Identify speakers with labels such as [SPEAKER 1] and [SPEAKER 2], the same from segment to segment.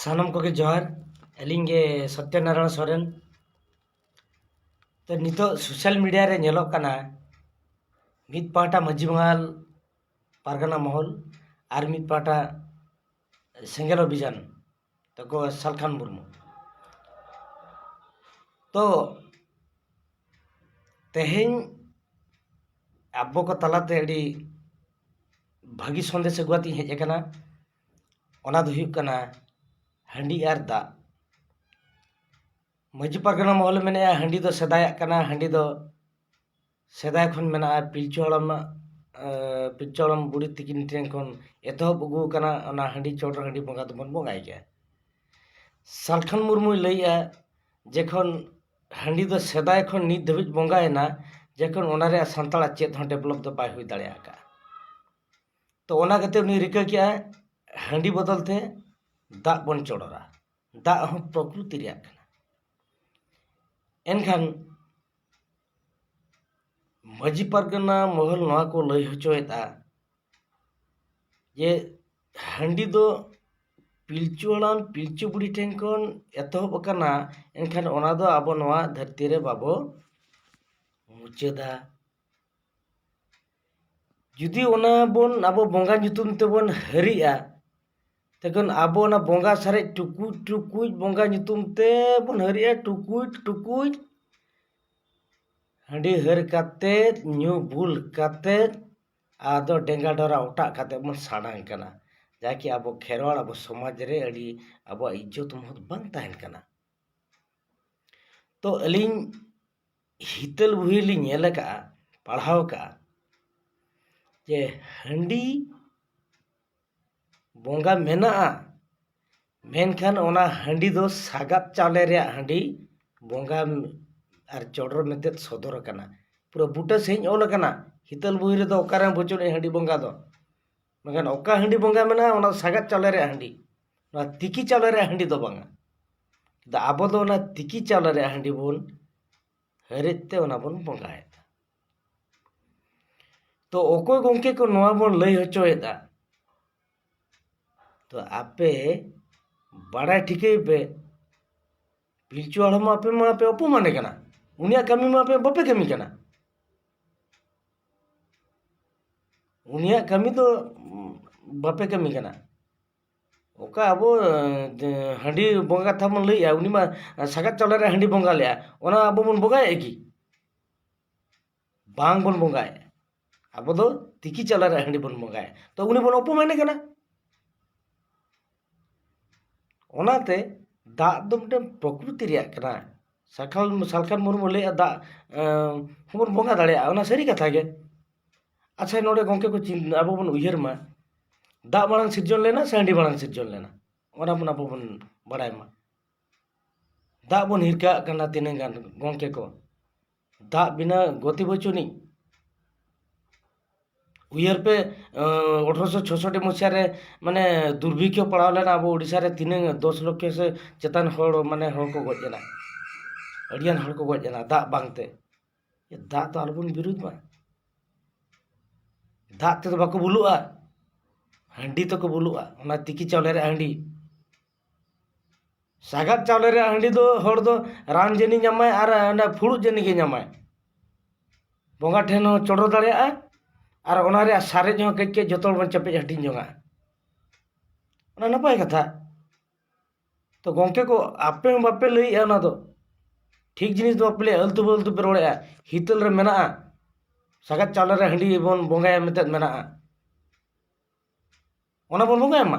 [SPEAKER 1] ᱥᱟᱱᱟᱢ ᱠᱚᱜᱮ ᱡᱚᱦᱟᱨ ᱟᱹᱞᱤᱧ ᱜᱮ ᱥᱚᱛᱛᱚ ᱱᱟᱨᱟᱭᱚᱱ ᱥᱚᱨᱮᱱ ᱛᱚ ᱱᱤᱛᱚᱜ ᱥᱳᱥᱟᱞ ᱢᱤᱰᱤᱭᱟ ᱨᱮ ᱧᱮᱞᱚᱜ ᱠᱟᱱᱟ ᱢᱤᱫ ᱯᱟᱦᱴᱟ ᱢᱟᱹᱡᱷᱤ ᱢᱚᱦᱚᱞ ᱯᱟᱨᱜᱟᱱᱟ ᱢᱚᱦᱚᱞ ᱟᱨ ᱢᱤᱫ ᱯᱟᱦᱴᱟ ᱥᱮᱸᱜᱮᱞ ᱚᱵᱷᱤᱡᱟᱱ ᱛᱟᱠᱚ ᱥᱟᱞᱠᱷᱟᱱ ᱢᱩᱨᱢᱩ ᱛᱚ ᱛᱮᱦᱮᱧ ᱟᱵᱚ ᱠᱚ ᱛᱟᱞᱟᱛᱮ ᱟᱹᱰᱤ ᱵᱷᱟᱹᱜᱤ ᱥᱟᱸᱫᱮᱥ ᱟᱹᱜᱩ ᱠᱟᱛᱮᱧ ᱦᱮᱡ ᱟᱠᱟᱱᱟ ᱚᱱᱟ ᱫᱚ ᱦᱩᱭᱩᱜ ᱠᱟᱱᱟ ᱦᱟᱺᱰᱤ ᱟᱨ ᱫᱟᱜ ᱢᱟᱹᱡᱷᱤ ᱯᱟᱨᱜᱟᱱᱟ ᱢᱚᱦᱚᱞ ᱮ ᱢᱮᱱᱮᱫᱼᱟ ᱦᱟᱺᱰᱤ ᱫᱚ ᱥᱮᱫᱟᱭᱟᱜ ᱠᱟᱱᱟ ᱦᱟᱺᱰᱤ ᱫᱚ ᱥᱮᱫᱟᱭ ᱠᱷᱚᱱ ᱢᱮᱱᱟᱜᱼᱟ ᱯᱤᱞᱪᱩ ᱦᱟᱲᱟᱢᱟᱜ ᱯᱤᱞᱪᱩ ᱦᱟᱲᱟᱢ ᱵᱩᱲᱦᱤ ᱛᱟᱹᱠᱤᱱ ᱴᱷᱮᱱ ᱠᱷᱚᱱ ᱮᱛᱚᱦᱚᱵ ᱟᱹᱜᱩ ᱟᱠᱟᱱᱟ ᱚᱱᱟ ᱦᱟᱺᱰᱤ ᱪᱚᱰᱚᱨ ᱚᱱᱟ ᱦᱟᱺᱰᱤ ᱵᱚᱸᱜᱟ ᱫᱚᱵᱚᱱ ᱵᱚᱸᱜᱟᱭ ᱜᱮᱭᱟ ᱥᱟᱞᱠᱷᱟᱱ ᱢᱩᱨᱢᱩᱭ ᱞᱟᱹᱭᱮᱫᱼᱟ ᱡᱮᱠᱷᱚᱱ ᱦᱟᱺᱰᱤ ᱫᱚ ᱥᱮᱫᱟᱭ ᱠᱷᱚᱱ ᱱᱤᱛ ᱫᱷᱟᱹᱵᱤᱡ ᱵᱚᱸᱜᱟᱭᱮᱱᱟ ᱡᱮᱠᱷᱚᱱ ᱚᱱᱟ ᱨᱮᱭᱟᱜ ᱥᱟᱱᱛᱟᱲᱟᱜ ᱪᱮᱫ ᱦᱚᱸ ᱰᱮᱵᱷᱞᱚᱯ ᱫᱚ ᱵᱟᱭ ᱦᱩᱭ ᱫᱟᱲᱮ ᱟᱠᱟᱫᱼᱟ ᱛᱚ ᱚᱱᱟ ᱠᱷᱟᱹᱛᱤᱨ ᱩᱱᱤ ᱨᱤᱠᱟᱹ ᱠᱮᱫᱼᱟᱭ ᱦᱟᱺᱰᱤ ᱵᱚᱫᱚᱞ ᱛᱮ ᱫᱟᱜ ᱵᱚᱱ ᱪᱚᱰᱚᱨᱟ ᱫᱟᱜ ᱦᱚᱸ ᱯᱨᱚᱠᱨᱤᱛᱤ ᱨᱮᱭᱟᱜ ᱠᱟᱱᱟ ᱮᱱᱠᱷᱟᱱ ᱢᱟᱹᱡᱷᱤ ᱯᱟᱨᱜᱟᱱᱟ ᱢᱚᱦᱚᱞ ᱱᱚᱣᱟ ᱠᱚ ᱞᱟᱹᱭ ᱦᱚᱪᱚᱭᱮᱫᱼᱟ ᱡᱮ ᱦᱟᱺᱰᱤ ᱫᱚ ᱯᱤᱞᱪᱩ ᱦᱟᱲᱟᱢ ᱯᱤᱞᱪᱩ ᱵᱩᱲᱦᱤ ᱴᱷᱮᱱ ᱠᱷᱚᱱ ᱮᱛᱚᱦᱚᱵ ᱟᱠᱟᱱᱟ ᱮᱱᱠᱷᱟᱱ ᱚᱱᱟ ᱫᱚ ᱟᱵᱚ ᱱᱚᱣᱟ ᱫᱷᱟᱹᱨᱛᱤ ᱨᱮ ᱵᱟᱵᱚ ᱢᱩᱪᱟᱹᱫᱟ ᱡᱩᱫᱤ ᱚᱱᱟ ᱵᱚᱱ ᱟᱵᱚ ᱵᱚᱸᱜᱟ ᱧᱩᱛᱩᱢ ᱛᱮᱵᱚᱱ ᱦᱟᱹᱨᱤᱜᱼᱟ ᱛᱚᱠᱷᱚᱱ ᱟᱵᱚ ᱚᱱᱟ ᱵᱚᱸᱜᱟ ᱥᱟᱨᱮᱡ ᱴᱩᱠᱩᱡ ᱴᱩᱠᱩᱡ ᱵᱚᱸᱜᱟ ᱧᱩᱛᱩᱢ ᱛᱮᱵᱚᱱ ᱦᱟᱹᱨᱤᱜᱼᱟ ᱴᱩᱠᱩᱡ ᱴᱩᱠᱩᱡ ᱦᱟᱺᱰᱤ ᱦᱟᱹᱨ ᱠᱟᱛᱮᱫ ᱧᱩ ᱵᱩᱞ ᱠᱟᱛᱮᱫ ᱟᱫᱚ ᱰᱮᱝᱜᱟ ᱰᱚᱨᱟ ᱚᱴᱟᱜ ᱠᱟᱛᱮᱜ ᱵᱚᱱ ᱥᱟᱰᱟᱝ ᱠᱟᱱᱟ ᱡᱟᱜᱮ ᱟᱵᱚ ᱠᱷᱮᱨᱣᱟᱞ ᱟᱵᱚ ᱥᱚᱢᱟᱡ ᱨᱮ ᱟᱹᱰᱤ ᱟᱵᱚᱣᱟᱜ ᱤᱡᱡᱚᱛ ᱢᱚᱦᱚᱛ ᱵᱟᱝ ᱛᱟᱦᱮᱱ ᱠᱟᱱᱟ ᱛᱚ ᱟᱹᱞᱤᱧ ᱦᱤᱛᱟᱹᱞ ᱵᱩᱲᱦᱤ ᱨᱮᱞᱤᱧ ᱧᱮᱞ ᱠᱟᱜᱼᱟ ᱯᱟᱲᱦᱟᱣ ᱠᱟᱜᱼᱟ ᱡᱮ ᱦᱟᱺᱰᱤ ᱵᱚᱸᱜᱟ ᱢᱮᱱᱟᱜᱼᱟ ᱢᱮᱱᱠᱷᱟᱱ ᱚᱱᱟ ᱦᱟᱺᱰᱤ ᱫᱚ ᱥᱟᱜᱟᱫ ᱪᱟᱣᱞᱮ ᱨᱮᱭᱟᱜ ᱦᱟᱺᱰᱤ ᱵᱚᱸᱜᱟ ᱟᱨ ᱪᱚᱰᱚᱨ ᱢᱮᱱᱛᱮ ᱥᱚᱫᱚᱨ ᱟᱠᱟᱱᱟ ᱯᱩᱨᱟᱹ ᱵᱩᱴᱟᱹ ᱥᱟᱺᱦᱤᱡ ᱚᱞ ᱟᱠᱟᱱᱟ ᱦᱤᱛᱟᱹᱞ ᱵᱳᱭ ᱨᱮᱫᱚ ᱚᱠᱟᱨᱮᱢ ᱵᱩᱡᱷᱟᱹᱣᱟ ᱱᱩᱭ ᱦᱟᱺᱰᱤ ᱵᱚᱸᱜᱟ ᱫᱚ ᱢᱮᱱᱠᱷᱟᱱ ᱚᱠᱟ ᱦᱟᱺᱰᱤ ᱵᱚᱸᱜᱟ ᱢᱮᱱᱟᱜᱼᱟ ᱚᱱᱟ ᱫᱚ ᱥᱟᱜᱟᱫ ᱪᱟᱣᱞᱮ ᱨᱮᱭᱟᱜ ᱦᱟᱺᱰᱤ ᱱᱚᱣᱟ ᱛᱤᱠᱤ ᱪᱟᱣᱞᱮ ᱨᱮᱭᱟᱜ ᱦᱟᱺᱰᱤ ᱫᱚ ᱵᱟᱝᱟ ᱟᱵᱚ ᱫᱚ ᱚᱱᱟ ᱛᱤᱠᱤ ᱪᱟᱣᱞᱮ ᱨᱮᱭᱟᱜ ᱦᱟᱺᱰᱤ ᱵᱚᱱ ᱦᱟᱹᱨᱮᱫ ᱛᱮ ᱚᱱᱟ ᱵᱚᱱ ᱵᱚᱸᱜᱟᱭᱮᱫᱟ ᱛᱚ ᱚᱠᱚᱭ ᱜᱚᱝᱠᱮ ᱠᱚ ᱱᱚᱣᱟ ᱵᱚᱱ ᱞᱟᱹᱭ ᱦᱚᱪᱚᱭᱮᱫᱟ ᱛᱚ ᱟᱯᱮ ᱵᱟᱲᱟᱭ ᱴᱷᱤᱠᱟᱹᱭ ᱯᱮ ᱯᱤᱞᱪᱩ ᱦᱟᱲᱟᱢ ᱢᱟ ᱟᱯᱮ ᱢᱟᱯᱮ ᱚᱯᱚᱢᱟᱱᱮ ᱠᱟᱱᱟ ᱩᱱᱤᱭᱟᱜ ᱠᱟᱹᱢᱤ ᱢᱟ ᱟᱯᱮ ᱵᱟᱯᱮ ᱠᱟᱹᱢᱤ ᱠᱟᱱᱟ ᱩᱱᱤᱭᱟᱜ ᱠᱟᱹᱢᱤ ᱫᱚ ᱵᱟᱯᱮ ᱠᱟᱹᱢᱤ ᱠᱟᱱᱟ ᱚᱠᱟ ᱟᱵᱚ ᱦᱟᱺᱰᱤ ᱵᱚᱸᱜᱟ ᱠᱟᱛᱷᱟ ᱵᱚᱱ ᱞᱟᱹᱭᱮᱜᱼᱟ ᱩᱱᱤ ᱢᱟ ᱥᱟᱜᱟᱫ ᱪᱟᱣᱞᱮ ᱨᱮ ᱦᱟᱺᱰᱤ ᱵᱚᱸᱜᱟ ᱞᱮᱜᱼᱟᱭ ᱚᱱᱟ ᱟᱵᱚ ᱵᱚᱱ ᱵᱚᱸᱜᱟᱭᱮᱜᱼᱟ ᱠᱤ ᱵᱟᱝ ᱵᱚᱱ ᱵᱚᱸᱜᱟᱭᱟ ᱟᱵᱚ ᱫᱚ ᱛᱤᱠᱤ ᱪᱟᱣᱞᱮ ᱨᱮᱭᱟᱜ ᱦᱟᱺᱰᱤ ᱵᱚᱱ ᱵᱚᱸᱜᱟᱭᱟ ᱛᱚ ᱩᱱᱤ ᱵᱚᱱ ᱚᱯᱚᱢᱟᱱᱮ ᱠᱟᱱᱟ ᱚᱱᱟᱛᱮ ᱫᱟᱜ ᱫᱚ ᱢᱤᱫᱴᱮᱱ ᱯᱨᱚᱠᱨᱤᱛᱤ ᱨᱮᱭᱟᱜ ᱠᱟᱱᱟ ᱥᱟᱞᱠᱷᱟᱱ ᱢᱩᱨᱢᱩᱭ ᱞᱟᱹᱭᱮᱫᱼᱟ ᱫᱟᱜ ᱦᱚᱸᱵᱚᱱ ᱵᱚᱸᱜᱟ ᱫᱟᱲᱮᱭᱟᱜᱼᱟ ᱚᱱᱟ ᱥᱟᱹᱨᱤ ᱠᱟᱛᱷᱟ ᱜᱮ ᱟᱪᱪᱷᱟ ᱱᱚᱰᱮ ᱜᱚᱢᱠᱮ ᱠᱚ ᱟᱵᱚ ᱵᱚᱱ ᱩᱭᱦᱟᱹᱨ ᱢᱟ ᱫᱟᱜ ᱢᱟᱲᱟᱝ ᱥᱤᱨᱡᱚᱱ ᱞᱮᱱᱟ ᱥᱮ ᱦᱟᱺᱰᱤ ᱢᱟᱲᱟᱝ ᱥᱤᱨᱡᱚᱱ ᱞᱮᱱᱟ ᱚᱱᱟ ᱵᱚᱱ ᱟᱵᱚ ᱵᱚᱱ ᱵᱟᱲᱟᱭ ᱢᱟ ᱫᱟᱜ ᱵᱚᱱ ᱦᱤᱨᱠᱟᱹᱣᱟᱜ ᱠᱟᱱᱟ ᱛᱤᱱᱟᱹᱜ ᱜᱟᱱ ᱜᱚᱢᱠᱮ ᱠᱚ ᱫᱟᱜ ᱵᱤᱱᱟᱹ ᱜᱚᱛᱤ ᱵᱟᱹᱪᱩᱜᱼᱟᱹᱱᱤᱡ ᱩᱭᱦᱟᱹᱨ ᱯᱮ ᱟᱴᱷᱨᱚᱥᱚ ᱪᱳᱥᱳᱴᱴᱤ ᱢᱩᱪᱟᱹᱫ ᱨᱮ ᱢᱟᱱᱮ ᱫᱩᱨᱵᱷᱤᱠᱠᱷᱚ ᱯᱟᱲᱟᱣ ᱞᱮᱱᱟ ᱟᱵᱚ ᱳᱰᱤᱥᱟ ᱨᱮ ᱛᱤᱱᱟᱹᱜ ᱫᱚᱥ ᱞᱚᱠᱠᱷᱚ ᱥᱮ ᱪᱮᱛᱟᱱ ᱦᱚᱲ ᱢᱟᱱᱮ ᱦᱚᱲ ᱠᱚ ᱜᱚᱡ ᱞᱮᱱᱟ ᱟᱹᱰᱤ ᱜᱟᱱ ᱦᱚᱲ ᱠᱚ ᱜᱚᱡ ᱞᱮᱱᱟ ᱫᱟᱜ ᱵᱟᱝᱛᱮ ᱫᱟᱜ ᱫᱚ ᱟᱞᱚ ᱵᱚᱱ ᱵᱤᱨᱳᱫᱷ ᱢᱟ ᱫᱟᱜ ᱛᱮᱫᱚ ᱵᱟᱠᱚ ᱵᱩᱞᱩᱜᱼᱟ ᱦᱟᱺᱰᱤ ᱛᱮᱠᱚ ᱵᱩᱞᱩᱜᱼᱟ ᱚᱱᱟ ᱛᱤᱠᱤ ᱪᱟᱣᱞᱮ ᱨᱮᱭᱟᱜ ᱦᱟᱺᱰᱤ ᱥᱟᱜᱟᱫ ᱪᱟᱣᱞᱮ ᱨᱮᱭᱟᱜ ᱦᱟᱺᱰᱤ ᱫᱚ ᱦᱚᱲ ᱫᱚ ᱨᱟᱱ ᱡᱟᱹᱱᱤ ᱧᱟᱢᱟᱭ ᱟᱨ ᱚᱱᱟ ᱯᱷᱩᱲᱩᱜ ᱡᱟᱹᱱᱤ ᱜᱮ ᱧᱟᱢᱟᱭ ᱵᱚᱸᱜᱟ ᱴᱷᱮᱱ ᱦᱚᱸ ᱪᱚᱰᱚᱨ ᱫᱟᱲᱮᱭᱟᱜᱼᱟᱭ ᱟᱨ ᱚᱱᱟ ᱨᱮᱭᱟᱜ ᱥᱟᱨᱮᱡ ᱦᱚᱸ ᱠᱟᱹᱡ ᱠᱟᱹᱡ ᱡᱚᱛᱚ ᱦᱚᱲ ᱵᱚᱱ ᱪᱮᱯᱮᱡ ᱦᱟᱹᱴᱤᱧ ᱡᱚᱝᱟ ᱚᱱᱟ ᱱᱟᱯᱟᱭ ᱠᱟᱛᱷᱟ ᱛᱚ ᱜᱚᱝᱠᱮ ᱠᱚ ᱟᱯᱮ ᱦᱚᱸ ᱵᱟᱯᱮ ᱞᱟᱹᱭᱮᱫᱼᱟ ᱚᱱᱟ ᱫᱚ ᱴᱷᱤᱠ ᱡᱤᱱᱤᱥ ᱫᱚ ᱵᱟᱯᱮ ᱞᱟᱹᱭᱮᱫᱼᱟ ᱟᱹᱞᱛᱩ ᱯᱷᱟᱹᱞᱛᱩ ᱯᱮ ᱨᱚᱲᱮᱫᱼᱟ ᱦᱤᱛᱟᱹᱞ ᱨᱮ ᱢᱮᱱᱟᱜᱼᱟ ᱥᱟᱜᱟᱫ ᱪᱟᱣᱞᱮ ᱨᱮ ᱦᱟᱺᱰᱤ ᱵᱚᱱ ᱵᱚᱸᱜᱟᱭᱟ ᱢᱮᱱᱛᱮ ᱢᱮᱱᱟᱜᱼᱟ ᱚᱱᱟ ᱵᱚᱱ ᱵᱚᱸᱜᱟᱭ ᱢᱟ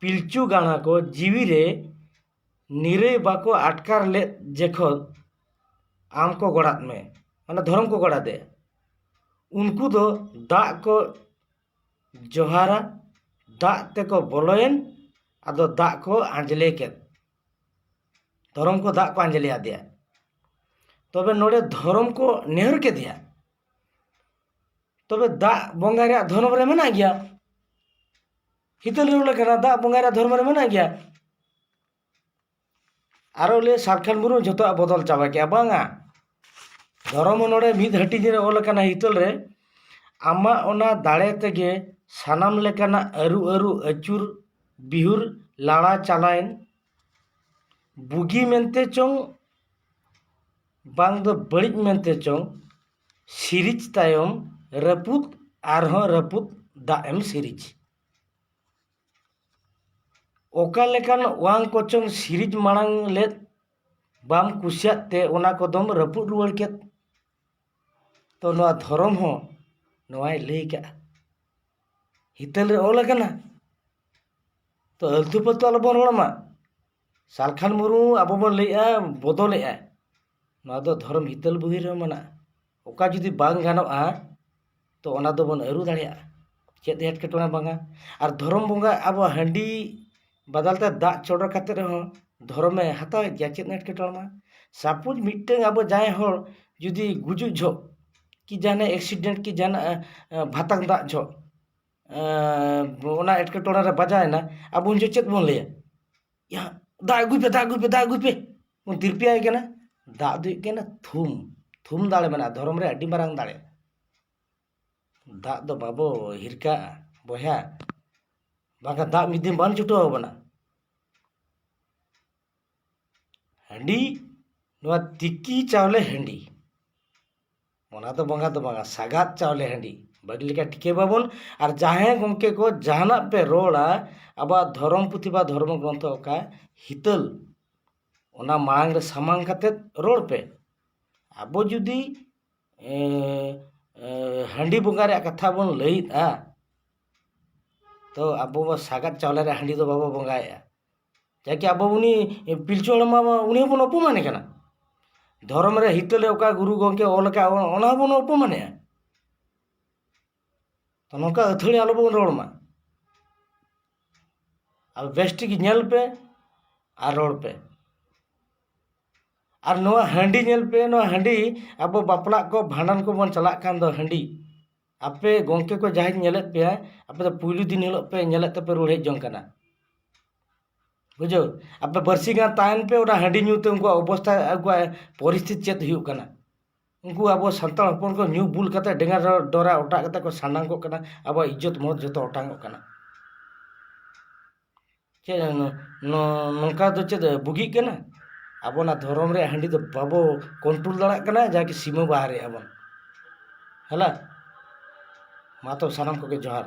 [SPEAKER 1] ᱯᱤᱞᱪᱩ ᱜᱟᱬᱟ ᱠᱚ ᱡᱤᱣᱤ ᱨᱮ ᱱᱤᱨᱟᱹᱭ ᱵᱟᱠᱚ ᱟᱴᱠᱟᱨ ᱞᱮᱫ ᱡᱚᱠᱷᱚᱱ ᱟᱢ ᱠᱚ ᱜᱚᱲᱟᱫ ᱢᱮ ᱢᱟᱱᱮ ᱫᱷᱚᱨᱚᱢ ᱠᱚ ᱜᱚᱲᱟ ᱫᱮ ᱩᱱᱠᱩ ᱫᱚ ᱫᱟᱜ ᱠᱚ ᱡᱚᱦᱟᱨᱟ ᱫᱟᱜ ᱛᱮᱠᱚ ᱵᱚᱞᱚᱭᱮᱱ ᱟᱫᱚ ᱫᱟᱜ ᱠᱚ ᱟᱸᱡᱽᱞᱮ ᱠᱮᱫ ᱫᱷᱚᱨᱚᱢ ᱠᱚ ᱫᱟᱜ ᱠᱚ ᱟᱸᱡᱽᱞᱮ ᱟᱫᱮᱭᱟ ᱛᱚᱵᱮ ᱱᱚᱰᱮ ᱫᱷᱚᱨᱚᱢ ᱠᱚ ᱱᱮᱦᱚᱨ ᱠᱮᱫᱮᱭᱟ ᱛᱚᱵᱮ ᱫᱟᱜ ᱵᱚᱸᱜᱟ ᱨᱮᱭᱟᱜ ᱫᱷᱚᱨᱚᱢ ᱨᱮ ᱢᱮᱱᱟᱜ ᱜᱮᱭᱟ ᱦᱤᱛᱟᱹᱞ ᱨᱩᱣᱟᱹᱲ ᱞᱮᱠᱟᱱᱟᱜ ᱫᱟᱜ ᱵᱚᱸᱜᱟᱭ ᱨᱮᱭᱟᱜ ᱫᱷᱚᱨᱢᱚ ᱨᱮ ᱢᱮᱱᱟᱜ ᱜᱮᱭᱟ ᱟᱨᱚ ᱞᱟᱹᱭᱟ ᱥᱟᱨᱠᱷᱟᱱ ᱢᱩᱨᱢᱩ ᱡᱚᱛᱚᱣᱟᱜ ᱵᱚᱫᱚᱞ ᱪᱟᱵᱟ ᱠᱮᱜᱼᱟ ᱵᱟᱝᱟ ᱫᱷᱚᱨᱚᱢ ᱚᱱᱚᱲᱦᱮᱸ ᱢᱤᱫ ᱦᱟᱹᱴᱤᱧ ᱨᱮ ᱚᱞ ᱠᱟᱱᱟ ᱦᱤᱛᱟᱹᱞ ᱨᱮ ᱟᱢᱟᱜ ᱚᱱᱟ ᱫᱟᱲᱮ ᱛᱮᱜᱮ ᱥᱟᱱᱟᱢ ᱞᱮᱠᱟᱱᱟᱜ ᱟᱹᱨᱩ ᱟᱹᱨᱩ ᱟᱹᱪᱩᱨ ᱵᱤᱦᱩᱨ ᱞᱟᱲᱟ ᱪᱟᱞᱟᱭᱮᱱ ᱵᱩᱜᱤ ᱢᱮᱱᱛᱮ ᱪᱚᱝ ᱵᱟᱝ ᱫᱚ ᱵᱟᱹᱲᱤᱡ ᱢᱮᱱᱛᱮ ᱪᱚᱝ ᱥᱤᱨᱤᱡᱽ ᱛᱟᱭᱚᱢ ᱨᱟᱹᱯᱩᱫ ᱟᱨᱦᱚᱸ ᱨᱟᱹᱯᱩᱫ ᱫᱟᱜ ᱮᱢ ᱥᱤᱨᱤᱡᱽ ᱚᱠᱟ ᱞᱮᱠᱟᱱ ᱚᱣᱟᱱ ᱠᱚᱪᱚᱝ ᱥᱤᱨᱤᱡᱽ ᱢᱟᱲᱟᱝ ᱞᱮᱫ ᱵᱟᱢ ᱠᱩᱥᱤᱭᱟᱜ ᱛᱮ ᱚᱱᱟ ᱠᱚᱫᱚᱢ ᱨᱟᱹᱯᱩᱫ ᱨᱩᱣᱟᱹᱲ ᱠᱮᱫ ᱛᱚ ᱱᱚᱣᱟ ᱫᱷᱚᱨᱚᱢ ᱦᱚᱸ ᱱᱚᱣᱟᱭ ᱞᱟᱹᱭ ᱠᱟᱜᱼᱟ ᱦᱤᱛᱟᱹᱞ ᱨᱮ ᱚᱞ ᱠᱟᱱᱟ ᱛᱚ ᱟᱹᱞᱛᱩ ᱯᱷᱟᱹᱞᱛᱩ ᱟᱞᱚᱵᱚᱱ ᱨᱚᱲ ᱢᱟ ᱥᱟᱞᱠᱷᱟᱱ ᱢᱩᱨᱢᱩ ᱟᱵᱚ ᱵᱚᱱ ᱞᱟᱹᱭᱮᱜᱼᱟ ᱵᱚᱫᱚᱞᱮᱜᱼᱟᱭ ᱱᱚᱣᱟ ᱫᱚ ᱫᱷᱚᱨᱚᱢ ᱦᱤᱛᱟᱹᱞ ᱵᱚᱦᱤ ᱨᱮᱦᱚᱸ ᱢᱮᱱᱟᱜᱼᱟ ᱚᱠᱟ ᱡᱩᱫᱤ ᱵᱟᱝ ᱜᱟᱱᱚᱜᱼᱟ ᱛᱚ ᱚᱱᱟ ᱫᱚᱵᱚᱱ ᱟᱹᱨᱩ ᱫᱟᱲᱮᱭᱟᱜᱼᱟ ᱪᱮᱫ ᱮᱴᱠᱮᱴᱚᱬᱮ ᱵᱟᱝᱟ ᱟᱨ ᱫᱷᱚᱨᱚᱢ ᱵᱚᱸᱜᱟ ᱟᱵᱚᱣᱟᱜ ᱦᱟᱺᱰᱤ ᱵᱟᱫᱟᱞ ᱛᱮ ᱫᱟᱜ ᱪᱚᱰᱚᱨ ᱠᱟᱛᱮ ᱨᱮᱦᱚᱸ ᱫᱷᱚᱨᱚᱢᱮ ᱦᱟᱛᱟᱣᱮᱜ ᱜᱮᱭᱟ ᱪᱮᱫ ᱮᱴᱠᱮᱴᱚᱬᱮ ᱵᱟᱝ ᱥᱟᱯᱳᱡ ᱢᱤᱫᱴᱟᱹᱝ ᱟᱵᱚ ᱡᱟᱦᱟᱸᱭ ᱦᱚᱲ ᱡᱩᱫᱤ ᱜᱩᱡᱩᱜ ᱡᱚᱦᱚᱜ ᱠᱤ ᱡᱟᱦᱟᱱᱟᱜ ᱮᱠᱥᱤᱰᱮᱱᱴ ᱠᱤ ᱡᱟᱦᱟᱱᱟᱜ ᱵᱷᱟᱛᱟᱝ ᱫᱟᱜ ᱡᱚᱦᱚᱜ ᱚᱱᱟ ᱮᱴᱠᱮᱴᱚᱬᱮ ᱨᱮ ᱵᱟᱡᱟᱣ ᱮᱱᱟ ᱟᱵᱚ ᱩᱱ ᱡᱚᱦᱚᱜ ᱪᱮᱫ ᱵᱚᱱ ᱞᱟᱹᱭᱟ ᱭᱟ ᱫᱟᱜ ᱟᱹᱜᱩᱭ ᱯᱮ ᱫᱟᱜ ᱟᱹᱜᱩᱭ ᱯᱮ ᱫᱟᱜ ᱟᱹᱜᱩᱭ ᱯᱮ ᱵᱚᱱ ᱛᱤᱨᱯᱤ ᱟᱭ ᱠᱟᱱᱟ ᱫᱟᱜ ᱫᱚ ᱦᱩᱭᱩᱜ ᱠᱟᱱᱟ ᱛᱷᱩᱢ ᱛᱷᱩᱢ ᱫᱟᱲᱮ ᱢᱮᱱᱟᱜᱼᱟ ᱫᱷᱚᱨᱚᱢ ᱨᱮ ᱟᱹᱰᱤ ᱢᱟᱨᱟᱝ ᱫᱟᱲᱮ ᱫᱟᱜ ᱫᱚ ᱵᱟᱵᱚ ᱦᱤᱨᱠᱟᱹᱣᱟᱜᱼᱟ ᱵᱚᱭᱦᱟ ᱵᱟᱝᱠᱷᱟᱱ ᱫᱟᱜ ᱢᱤᱫ ᱫᱤᱱ ᱵᱟᱝ ᱪᱷᱩᱴᱟᱹᱣ ᱟᱵᱚᱱᱟ ᱦᱟᱺᱰᱤ ᱱᱚᱣᱟ ᱛᱤᱠᱤ ᱪᱟᱣᱞᱮ ᱦᱟᱺᱰᱤ ᱚᱱᱟ ᱫᱚ ᱵᱚᱸᱜᱟ ᱫᱚ ᱵᱟᱝᱟ ᱥᱟᱜᱟᱫ ᱪᱟᱣᱞᱮ ᱦᱟᱺᱰᱤ ᱵᱟᱹᱜᱤ ᱞᱮᱠᱟ ᱴᱷᱤᱠᱟᱹ ᱵᱟᱵᱚᱱ ᱟᱨ ᱡᱟᱦᱟᱸᱭ ᱜᱚᱢᱠᱮ ᱠᱚ ᱡᱟᱦᱟᱱᱟᱜ ᱯᱮ ᱨᱚᱲᱟ ᱟᱵᱚᱣᱟᱜ ᱫᱷᱚᱨᱚᱢ ᱯᱩᱛᱷᱤ ᱵᱟ ᱫᱷᱚᱨᱚᱢ ᱜᱨᱚᱱᱛᱷᱚ ᱚᱠᱟ ᱦᱤᱛᱟᱹᱞ ᱚᱱᱟ ᱢᱟᱲᱟᱝ ᱨᱮ ᱥᱟᱢᱟᱝ ᱠᱟᱛᱮᱫ ᱨᱚᱲ ᱯᱮ ᱟᱵᱚ ᱡᱩᱫᱤ ᱦᱟᱺᱰᱤ ᱵᱚᱸᱜᱟ ᱨᱮᱭᱟᱜ ᱠᱟᱛᱷᱟ ᱵᱚᱱ ᱞᱟᱹᱭᱮᱫᱼᱟ ᱛᱚ ᱟᱵᱚ ᱢᱟ ᱥᱟᱜᱟᱫ ᱪᱟᱣᱞᱮ ᱨᱮᱭᱟᱜ ᱦᱟᱺᱰᱤ ᱫᱚ ᱵᱟᱵᱚ ᱵᱚᱸᱜᱟᱭᱮᱫᱼᱟ ᱪᱮᱫᱟᱜ ᱠᱤ ᱟᱵᱚ ᱩᱱᱤ ᱯᱤᱞᱪᱩ ᱦᱟᱲᱟᱢ ᱵᱟᱵᱟ ᱩᱱᱤ ᱦᱚᱸᱵᱚᱱ ᱚᱯᱚᱢᱟᱱᱮ ᱠᱟᱱᱟ ᱫᱷᱚᱨᱚᱢ ᱨᱮ ᱦᱤᱛᱟᱹᱞ ᱨᱮ ᱚᱠᱟ ᱜᱩᱨᱩ ᱜᱚᱢᱠᱮᱭ ᱚᱞ ᱠᱟᱜ ᱚᱱᱟ ᱦᱚᱸᱵᱚᱱ ᱚᱯᱚᱢᱟᱱᱮᱜᱼᱟ ᱛᱚ ᱱᱚᱝᱠᱟ ᱟᱹᱛᱷᱟᱹᱲᱤ ᱟᱞᱚ ᱵᱚᱱ ᱨᱚᱲ ᱢᱟ ᱟᱫᱚ ᱵᱮᱥ ᱴᱷᱤᱠ ᱧᱮᱞ ᱯᱮ ᱟᱨ ᱨᱚᱲ ᱯᱮ ᱟᱨ ᱱᱚᱣᱟ ᱦᱟᱺᱰᱤ ᱧᱮᱞ ᱯᱮ ᱱᱚᱣᱟ ᱦᱟᱺᱰᱤ ᱟᱵᱚ ᱵᱟᱯᱞᱟᱜ ᱠᱚ ᱵᱷᱟᱸᱰᱟᱱ ᱠᱚᱵᱚᱱ ᱪᱟᱞᱟᱜ ᱠᱟᱱ ᱫᱚ ᱦᱟᱺᱰᱤ ᱟᱯᱮ ᱜᱚᱝᱠᱮ ᱠᱚ ᱡᱟᱦᱟᱸᱭ ᱠᱚ ᱧᱮᱞᱮᱫ ᱯᱮᱭᱟ ᱟᱯᱮ ᱫᱚ ᱯᱩᱭᱞᱩ ᱫᱤᱱ ᱦᱤᱞᱳᱜ ᱯᱮ ᱧᱮᱞᱮᱫ ᱛᱮᱯᱮ ᱨᱩᱣᱟᱹᱲ ᱦᱮᱡ ᱡᱚᱝ ᱠᱟᱱᱟ ᱵᱩᱡᱷᱟᱹᱣ ᱟᱯᱮ ᱵᱟᱨᱥᱤᱧ ᱜᱟᱱ ᱛᱟᱦᱮᱱ ᱯᱮ ᱚᱱᱟ ᱦᱟᱺᱰᱤ ᱧᱩ ᱛᱮ ᱩᱱᱠᱩᱣᱟᱜ ᱚᱵᱚᱥᱛᱟ ᱩᱱᱠᱩᱣᱟᱜ ᱯᱚᱨᱤᱥᱛᱷᱤᱛᱤ ᱪᱮᱫ ᱦᱩᱭᱩᱜ ᱠᱟᱱᱟ ᱩᱱᱠᱩ ᱟᱵᱚ ᱥᱟᱱᱛᱟᱲ ᱦᱚᱯᱚᱱ ᱠᱚ ᱧᱩ ᱵᱩᱞ ᱠᱟᱛᱮ ᱰᱮᱝᱜᱟ ᱰᱚᱨᱟ ᱚᱴᱟᱜ ᱠᱟᱛᱮ ᱠᱚ ᱥᱟᱱᱰᱟᱝ ᱠᱚᱜ ᱠᱟᱱᱟ ᱟᱵᱚᱣᱟᱜ ᱤᱡᱽᱡᱚᱛ ᱢᱚᱦᱚᱛ ᱡᱚᱛᱚ ᱚᱴᱟᱝᱚᱜ ᱠᱟᱱᱟ ᱪᱮᱫ ᱱᱚᱝᱠᱟ ᱫᱚ ᱪᱮᱫ ᱵᱩᱜᱤᱜ ᱠᱟᱱᱟ ᱟᱵᱚᱱᱟᱜ ᱫᱷᱚᱨᱚᱢ ᱨᱮᱭᱟᱜ ᱦᱟᱺᱰᱤ ᱫᱚ ᱵᱟᱵᱚ ᱠᱚᱱᱴᱨᱳᱞ ᱫᱟᱲᱮᱭᱟᱜ ᱠᱟᱱᱟ ᱡᱟᱜᱮ ᱥᱤᱢᱟᱹ ᱵᱟᱦᱨᱮ ᱮᱫᱟ ᱵᱚᱱ ᱦᱮᱞᱳ ᱢᱟ ᱛᱚᱵᱮ ᱥᱟᱱᱟᱢ ᱠᱚᱜᱮ ᱡᱚᱦᱟᱨ